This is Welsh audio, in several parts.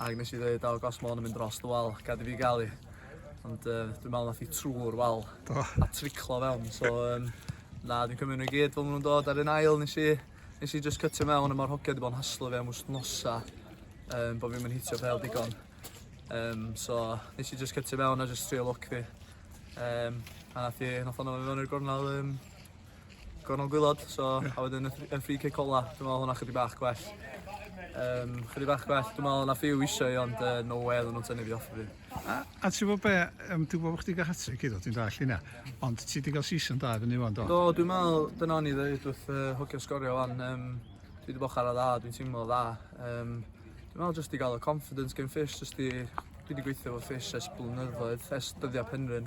Ac nes i ddweud, o, gos môn yn mynd dros dy wal, gad i fi gael i. Ond uh, dwi'n meddwl nath i trwy'r wal Do. a triclo fewn. So, um, na, dwi'n cymryd nhw i gyd fel maen nhw'n dod ar un ail. Nes i, nes i just cytio mewn a mae'r hogia wedi bod yn haslo fi am wsnosa um, bod fi'n mynd hitio fel digon. Um, so, nes i just cytio mewn a just trio look fi. Um, a nath i, nath o'n mewn i'r gornel um, Gornel gwylod, so a wedyn y free kick ola, dwi'n meddwl hwnna chydig bach gwell. Um, chydig bach gwell, dwi'n meddwl na few eisiau i ond uh, no way oedden nhw'n tynnu fi off fi. A, a ti'n bod be, um, dwi'n gwybod bod chdi gael hatri cyd o, ti'n dall hynna, ond ti wedi cael season da fyny fan do? Do, dwi'n meddwl, dyna o'n i ddweud wrth uh, hwcio sgorio fan, um, dwi wedi bochar o dda, dwi'n teimlo dda. Um, dwi'n meddwl jyst i gael y confidence gen Fish, jyst i, dwi wedi gweithio fo Fish ers blynyddoedd, ers dyddiau Penrhyn.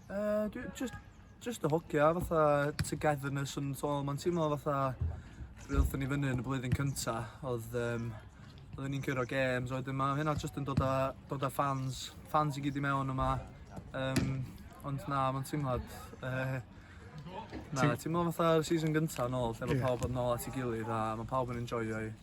Uh, dwi just, just y hogia, fatha togetherness yn tol. Mae'n teimlo fatha, rydw oeddwn ni fyny yn y blwyddyn cynta, oedd um, oeddwn ni'n cyrro games, oedd yma, hynna just yn dod â, dod â fans, fans i gyd i mewn yma. Um, ond na, mae'n teimlad, uh, na, teimlo fatha'r season gynta yn ôl, lle mae yeah. pawb yn ôl at ei gilydd a mae pawb yn enjoyio i.